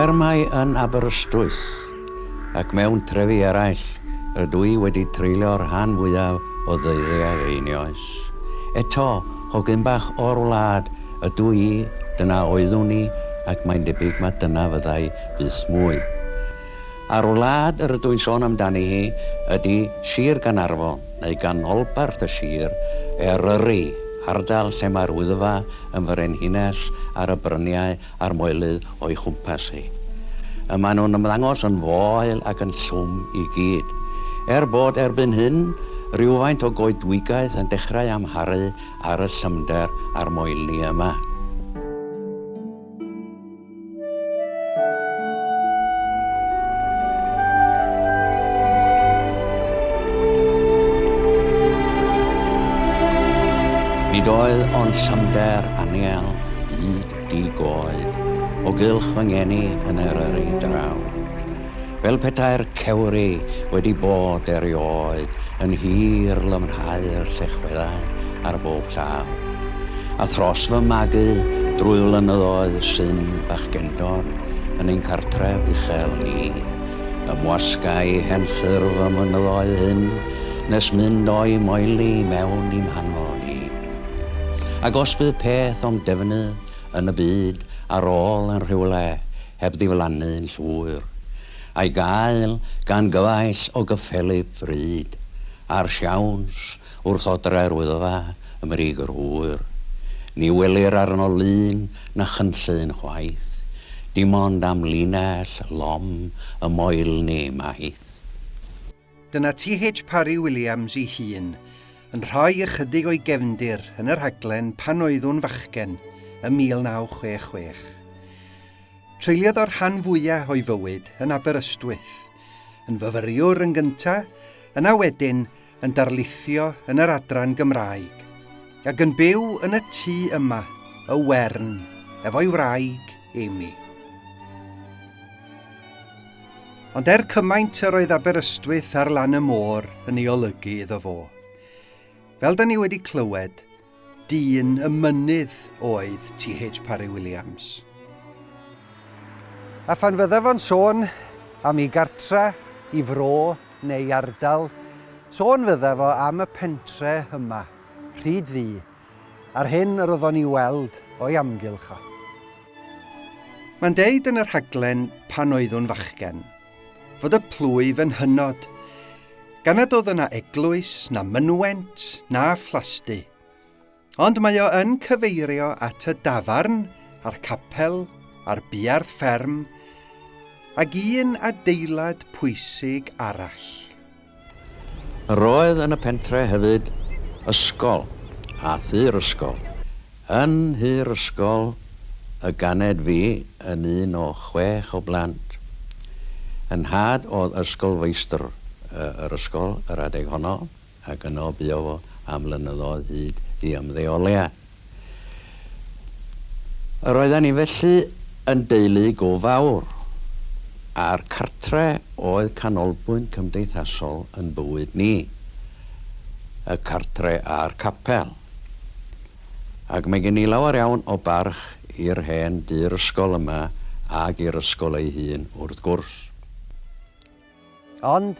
Er mai yn Aberystwyth ac mewn trefi eraill rydw i wedi treulio'r rhan fwyaf o ddeuddiau fy oes, eto, hogyn bach o'r wlad ydw i, dyna oeddwn i ac mae'n debyg mai dyna fyddai byth mwy. a'r wlad yr ydw i'n sôn amdani hi ydi Sir Gaernarfon, neu ganolbarth y sir, Eryri, ardal lle mae'r Wyddfa yn frenhines ar y bryniau a'r moelydd o'i chwmpas hi. Y maen nhw'n ymddangos yn foel ac yn llwm i gyd. Er bod erbyn hyn rywfaint o goedwigaeth yn dechrau amharu ar y llymder a'r moelni yma. Nid oedd ond llymder anial byd di goed o gylch fy ngeni yn yr yr ei draw. fel petai'r cewri wedi bod erioed yn hir lymhau'r llechweddau ar bob llaw. A thros fy magu drwy flynyddoedd sy'n fachgendod yn ein cartref uchel ni, ymwasgai hen ffurf y mynyddoedd hyn nes mynd o'i moeli mewn i'm hanfon ni. Ac os bydd peth o'm defnydd yn y byd ar ôl yn rhywle heb ddiflannu'n llwyr, a'i gael gan gyfaill o gyffelyb fryd, a'r siawns wrth odrau'r Wyddfa ym mrig yr hwyr. Ni welir arno lun na chynllun chwaith, dim ond amlinell lom y moelni maith. Dyna TH Parry Williams ei hun, yn rhoi ychydig o'i gefndir yn y rhaglen pan oeddwn fachgen ym 1966. Treuliodd o'r rhan fwya' o'i fywyd yn Aberystwyth, yn fyfyriwr yn gynta', yna wedyn yn darlithio yn yr adran Gymraeg, ag yn byw yn y tŷ yma, Y Wern, efo'i wraig, Amy. Ond er cymaint yr oedd Aberystwyth ar lan y môr yn ei olygu iddo fo. Fel da ni wedi clywed, dyn y mynydd oedd T.H. Parry Williams. A phan fydda fo'n sôn am ei gartre, i fro neu ardal, sôn fydda fo am y pentre yma, Rhyd Ddu, A'r hyn yr oeddwn i'w weld o'i amgylch a. Mae'n deud yn y rhaglen Pan oeddwn fachgen, fod y plwyf yn hynod, gan nad oedd yna eglwys, na mynwent, na phlasty. Ond mae o yn cyfeirio at y dafarn, a'r capel, a'r buarth fferm, ag un adeilad pwysig arall. Roedd yn y pentre hefyd ysgol a thŷ'r ysgol. Yn nhŷ'r ysgol y ganed fi yn un o chwech o blant. Yn nhad oedd ysgolfeistr yr ysgol yr adeg honno ac yno buo fo am flynyddoedd hyd i ymddeoliad. Yr oedden ni felly yn deulu go fawr, a'r cartre oedd canolbwynt cymdeithasol yn bywyd ni, y cartre a'r capel. Ac mae gen i lawer iawn o barch i'r hen dŷ'r ysgol yma ac i'r ysgol ei hun wrth gwrs. Ond,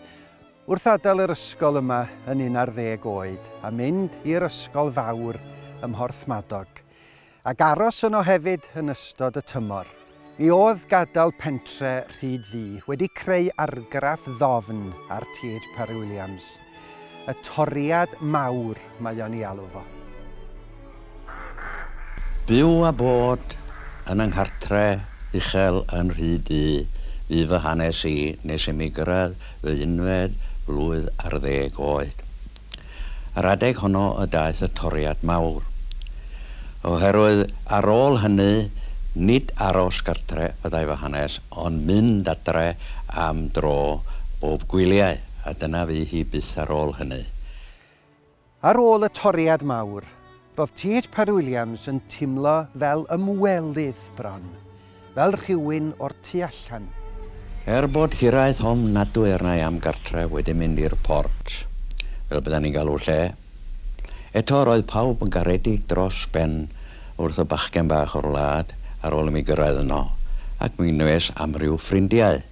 Wrth adael yr ysgol yma yn un ar ddeg oed a mynd i'r ysgol fawr ym Mhorthmadog, ac aros yno hefyd yn ystod y tymor, mi oedd gadael pentre Rhyd-ddu wedi creu argraff ddofn ar TH Parry-Williams, y toriad mawr mae o'n ei alw fo. Byw a bod yn 'y nghartre' uchel yn rhy du fu fy hanes i nes i mi gyrraedd fy unfed flwydd ar ddeg oed. Ar adeg honno y daeth y toriad mawr. Oherwydd ar ôl hynny, nid aros gartre fyddai fy hanes, ond mynd adre am dro bob gwyliau, a dyna fu hi byth ar ôl hynny. Ar ôl y toriad mawr, roedd TH Parry Williams yn teimlo fel ymwelydd bron, fel rhywun o'r tu allan. Er bod hiraeth ofn nadw er nai am gartref wedi mynd i'r port, fel byddan ni'n galw'r lle, eto roedd pawb yn garedig dros ben wrth y bachgen bach o'r wlad ar ôl i mi gyrraedd yno, ac mi wnes amryw ffrindiau,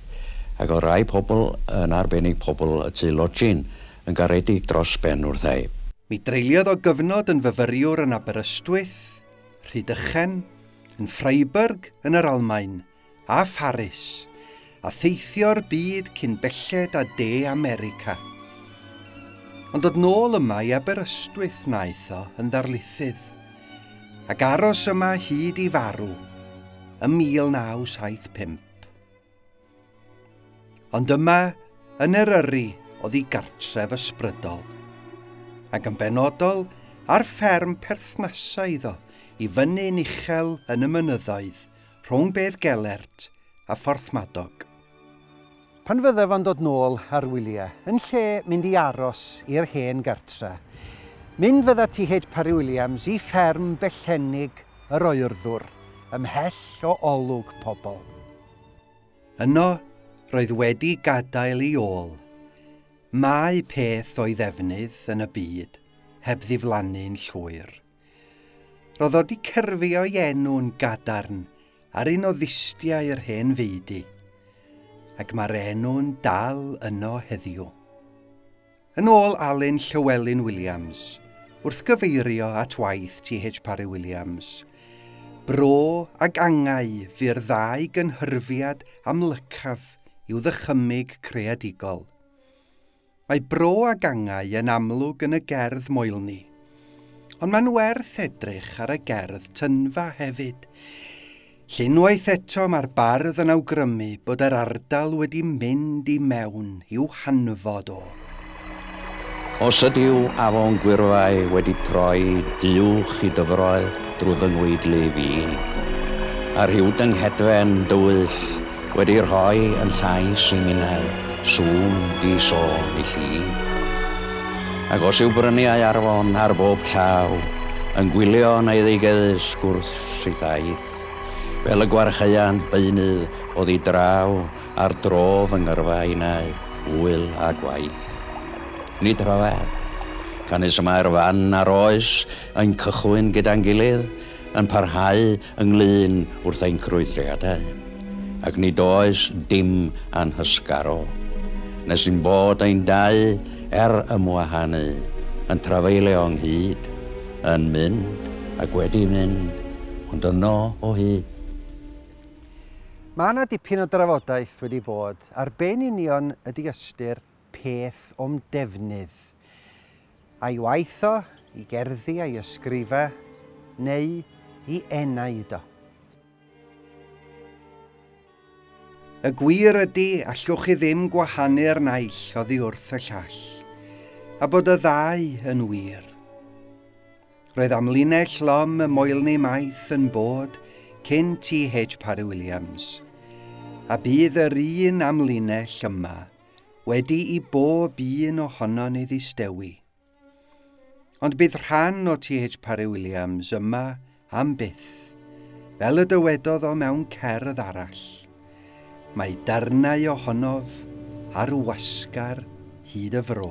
ac oedd rhai pobl, yn arbennig pobl y tŷ lodgin, Yn garedig dros ben wrth ei. Mi dreuliodd o gyfnod yn fyfyriwr yn Aberystwyth, Rhydychen, yn Freiburg yn yr Almaen, a Pharis, a theithio'r byd cyn belled â De America. Ond dod nôl yma i Aberystwyth wnaeth o yn ddarlithydd, ac aros yma hyd i farw ym 1975. Ond yma, yn Eryri, oedd ei gartref ysbrydol, ac yn benodol ar fferm perthnasau iddo i fyny'n uchel yn y mynyddoedd rhwng Bedd Gelert a Phorthmadog. Pan fyddaf yn dod nôl ar wyliau, yn lle mynd i aros i'r hen gartre, mynd fydda ti hyd Parry Williams i fferm Bellennig yr oerddwr ymhell o olwg pobl. Yno roedd wedi gadael i ôl Mae peth o'i ddefnydd yn y byd heb ddiflannu'n llwyr. Roedd o 'di cyrfio'i enw'n gadarn ar un o ddustiau yr hen feudy, ac mae'r enw'n dal yno heddiw. Yn ôl Alun Llywelyn Williams, wrth gyfeirio at waith TH Parry Williams, bro ag angau fu'r ddau gynhyrfiad amlycaf i'w ddychymyg creadigol. Mae bro ag angau yn amlwg yn y gerdd Moelni, ond mae'n werth edrych ar y gerdd Tynfa hefyd. Unwaith eto mae'r bardd yn awgrymu bod yr ardal wedi mynd i mewn i'w hanfod o. Os ydyw afon gwyrfai wedi troi duwch i dyfroel drwy fy ngweidlu fi, a rhyw dynghedfen dywyll wedi rhoi yn llais i minnau sŵn di sôn i lli, ac os yw bryniau arfon ar bob llaw yn gwylio yn eiddigeddus gwrth syth aeth. Fel y gwarchaeant beunydd oddi draw ar dro fy ngyrfa innau, ŵyl a gwaith. Nid rhyfedd. Canys y mae'r fan a'r oes yn cychwyn gyda'n gilydd, yn parhau ynglŷn wrth ein crwydriadau, ac nid oes dim a'n hysgaro, nes ein bod ein dau, er ymwahanu, yn trafeilio ynghyd, Yn mynd, ac wedi mynd, ond yno o hyd. Mae yna dipyn o drafodaeth wedi bod ar be yn union ydy ystyr peth o'm defnydd. A'i waith o, i gerddi a'i ysgrifa, neu i enaid o. Y gwir ydy, allwch chi ddim gwahanu'r naill oddi wrth y llall, a bod y ddau yn wir. Roedd amlinell lom y moelni maith yn bod cyn T.H. Parry Williams, a bydd yr un amlinell yma wedi i bob un ohono ni ddistewi. Ond bydd rhan o TH Parry Williams yma am byth. Fel y dywedodd o mewn cerdd arall, mae darnau ohonof ar wasgar hyd y fro.